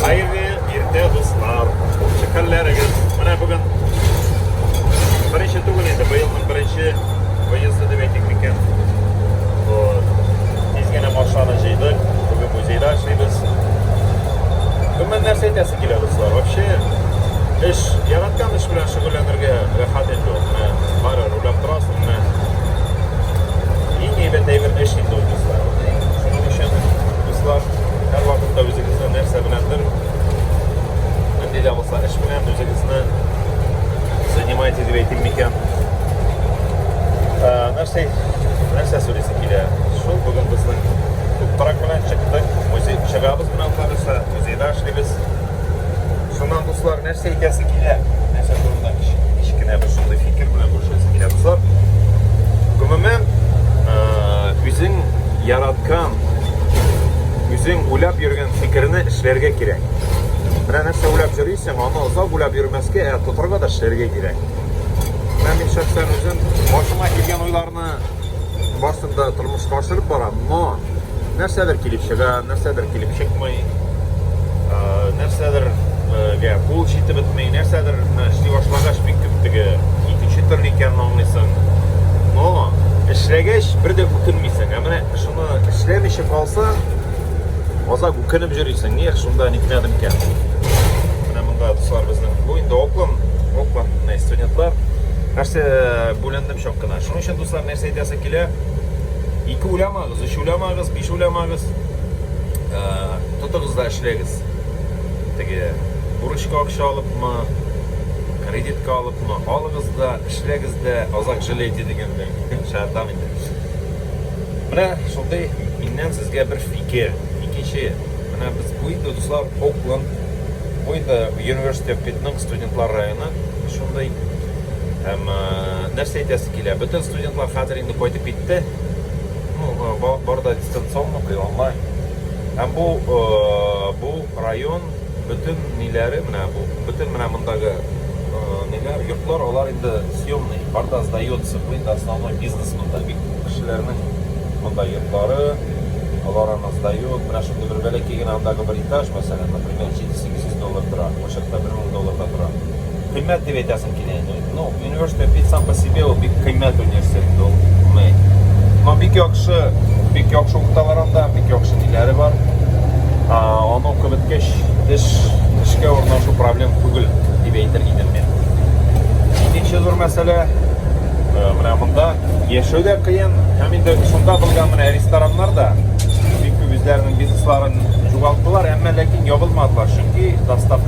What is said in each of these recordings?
Хәерле иртә, дуслар. Кучы хәлләрегез. Менә бүген беренче түгел инде, быелның беренче выезды дип әйтик микән. Тиз генә машинаны җыйдык. Бүген музейда эшлибез. Гомумән нәрсә әйтәсе килә, дуслар? Вообще эш, яраткан эш белән шөгыльләнергә рәхәт инде ул. Менә бары рулап торасың, менә. Иң әйбәт әйбер эш инде ул, дуслар. Шуның өчен, дуслар, һәрвакытта үз Сез нәрсә беләндер, нинди дә булса эш белән үзегезне занимаете дип әйтим микән. Нәрсә, нәрсә сөйлисе килә? Шул бүген безнең туктарак белән чыктык, музей чыгабыз белән карыса, музейда эшлибез. Шуннан дуслар, нәрсә әйтәсе килә? Нәрсә турында кечкенә бер шундый фикер белән бүлешәсе килә дуслар. Гомумән, үзең яраткан Үзең уйлап йөргән фикерне эшләргә кирәк. Менә нәрсә уйлап йөрисең, аны озак уйлап йөрмәскә, ә тотарга да эшләргә кирәк. Менә мин шәхсән үзем башыма килгән уйларны барсын да тормышка ашырып барам, но нәрсәдер килеп чыга, нәрсәдер килеп чыкмый, нәрсәдер гә кул җитеп бетмей, нәрсәдер эшли башлагач бик күп теге икенче төрле икәнен аңлыйсың. Но эшләгәч бер дә үкенмисең. Ә менә Шуны эшләмичә калса, азак үкенеп йөрисең. Эх, шунда нитмәдем икән. Менә монда дуслар безнең. Бу инде оклан, оклан менә студентлар. Нәрсә бүлендем чак кына. Шуның өчен дуслар нәрсә әйтәсе килә? Ике уйламагыз, өч уйламагыз, биш уйламагыз. Ә, тотыгыз да эшләгез. Теге бурычка акча алыпмы, кредитка алыпмы, алыгыз да, эшләгез дә, азак җылейте дигәндәй. Шәһәрдән инде. Менә шундый миннән сезгә бер фикер. Икенче, менә без бу инде, дуслар, Окленд, бу инде University of Pitnung студентлар районы шундый. Һәм нәрсә әйтәсе килә? Бөтен студентлар хәзер инде кайтып китте. Ну, бар да дистанционно, онлайн. Һәм бу, бу Район бөтен ниләре менә бу, бөтен менә мондагы ниләр, йортлар, алар инде съемный, арда сдается, бу инде основной бизнес монда бит, кешеләрнең монда йортлары, алар аны сдает, менә шундый бер бәләкәй генә андагы бер этаж, мәсәлән, например, җиде-сигез йөз доллар тора, бу чакта бер мең доллар да тора. Кыйммәт дип әйтәсем килә инде. Ну, университет бит сам по себе ул бик кыйммәт университет ул. Мы. Но бик яхшы, бик яхшы укыталар анда, бик яхшы ниләре бар. А, аны укып беткәч, эш, эшкә урнашу проблем түгел дип әйтер идем мин. Икенче зур мәсьәлә, э, менә монда яшәү дә кыен, һәм инде шунда булган менә рестораннар да бик күп үзләренең бизнесларын югалталар, әмма ләкин ябылмадылар, чөнки доставка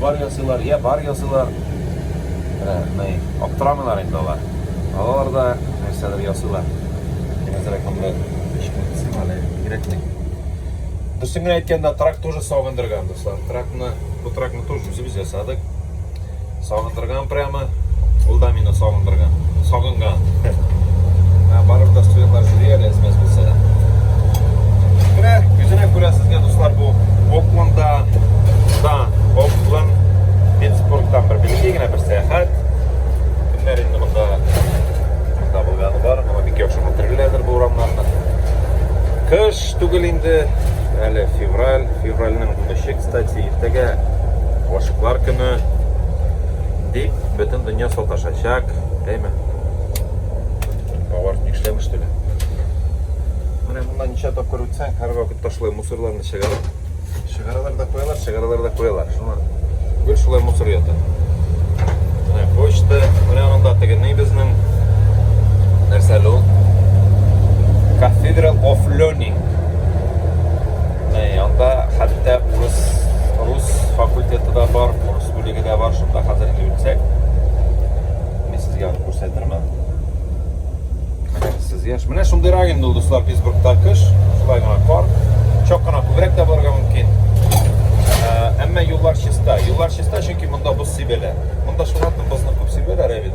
Бар ясыйлар, йә бар ясыйлар. Ә, мый, аптырамыйлар инде алар. Алалар да нәрсәдер ясыйлар. Мин әзрәк монда эшне кысыйм әле, кирәкми. Дөресен генә әйткәндә, трак тоже сагындырган, дуслар. Тракны, бу тракны тоже үзебез ясадык. Сагындыра. Торган прямо, ул да мине сагындырган, сагынган. Ә барып та студентлар сөйли әле смс булса да. Менә күзенә күрә сезгә дуслар бу Окланда, да, Окланд, Питтсбургтан бер билгеле генә бер сәяхәт. Кемнәр инде монда монда булганы бар, моңа бик яхшы хәтерлиләрдер бу урамнарны. Кыш түгел инде, әле февраль, февральнең 13 Кстати, иртәгә гашыклар көне дип бөтен дөнья саташачак, әйме? Алар нишләм эшлиләр? Менә монда ничә тапкыр үтсәң, һәр вакыт ташлы мусорларны чыгарып, чыгаралар да куялар, чыгаралар да куялар. Шуңа гел шулай мусор ята. Менә почта, менә анда тегене безнең нәрсә ул? Cathedral of Learning. Анда хәтта урыс, рус факультеты да бар, урыс бүлеге дә бар, шунда хәзер йөрсәк, мин сезгә аны күрсәтермен. Сез яш. Менә шундыйрак инде ул дуслар Питтсбургта кыш, шулай гына кар. Чак кына күбрәк тә булырга мөмкин. Әмма юллар чиста. Юллар чиста, чөнки монда боз сибәләр. Монда шуңа күрә бозны күп сибәләр, ә бит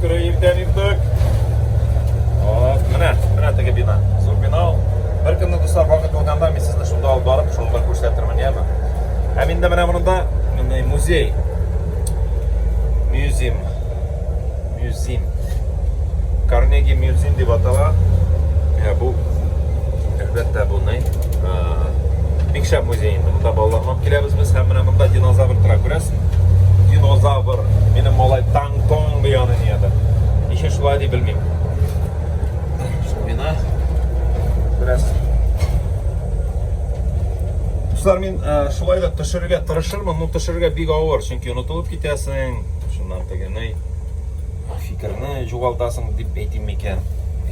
Күрә иртән иртүк. Вот, менә, менә теге бина. Зур бина ул. Бер көнне дуслар вакыт булганда мин сезне шунда алып барып, шуны да күрсәтермен, яме. Һәм инде менә монда менә музей. Мюзим. Мюзим. Карнеги мюзим дип атала. Ә бу әлбәттә бу не? Бик шәп музей инде. Монда балаларны алып киләбез без һәм менә монда динозавр тора күрәсез. динозавр, минем малай таңтон бу яны нияде. Ничек шулай дип белмим. Мина бераз Дуслар, мин э, шулай да төшерергә тырышырмын, но төшерергә бик авыр, чөнки онытылып китәсең, шуннан тегене фикерне югалтасың дип әйтим микән?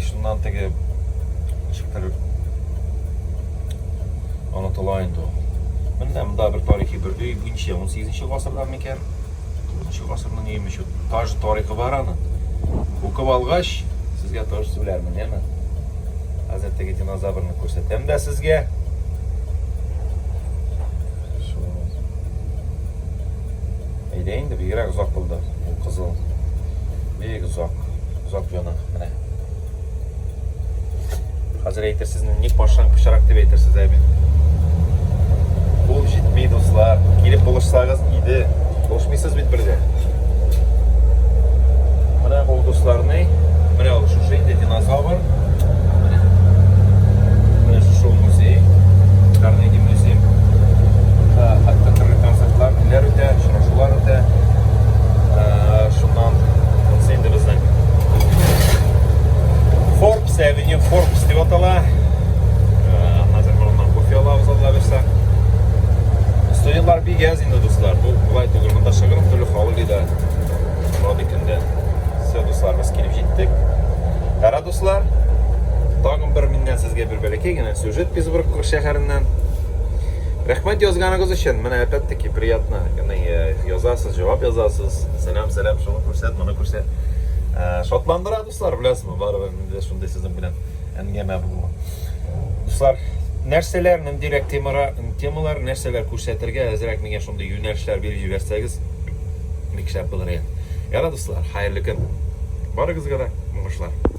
Шуннан теге ничектер Онытыла инде ул. Менә монда бер тарихи бер өй, бу ничә 18 нче гасырда микән? 19 нчы гасырның өеме чу. Таж тарихы бар аны. Укып алгач, сезгә таж сүләрмен, яме. Хәзер теге динозаврны күрсәтәм дә сезгә. Шу. Әйдә инде бигрәк озак булды. Бу кызыл. Бик озак, озак яна. Менә. Хәзер әйтерсез, ник башын пычрак дип әйтерсез, әби. Бу җитми, дуслар. Килеп булышсагыз иде. Булышмыйсыз бит бергә. Менә ул дусларны, менә ул шушы инде динозавр. Менә. Менә шушы музей. Карнеги музей. Та хәтта төрле концертлар, ниләр үтә, очрашулар үтә. Шуннан Forbes Avenue, Forbes дип атала. Хәзер моннан кофе алабыз алла бирсә. Студентлар бик яз инде дуслар. Бу булай түгел. Монда шыгырым төрле халык иде. Рады көндә. Все дуслар без килеп җиттек. Кара дуслар, тагын бер миннән сезгә бер бәләкәй генә сюжет Петербург шәһәреннән. Рәхмәт язганыгыз өчен. Менә опять-таки приятно. Яны язасыз, җавап язасыз. Сәлам. Сәлам, шуны күрсәт, моны күрсәт. Ә, шатландыра, дуслар, беләсезме, барыбер инде шундый сезнең белән әңгәмә булуы. Дуслар, нәрсәләр, ниндирәк темара, темалар, нәрсәләр күрсәтергә әзрәк миңа шундый юнәлешләр биреп җибәрсәгез, бик шәп булыр иде. Яра, дуслар, хәерле көн. Барыгызга да уңышлар.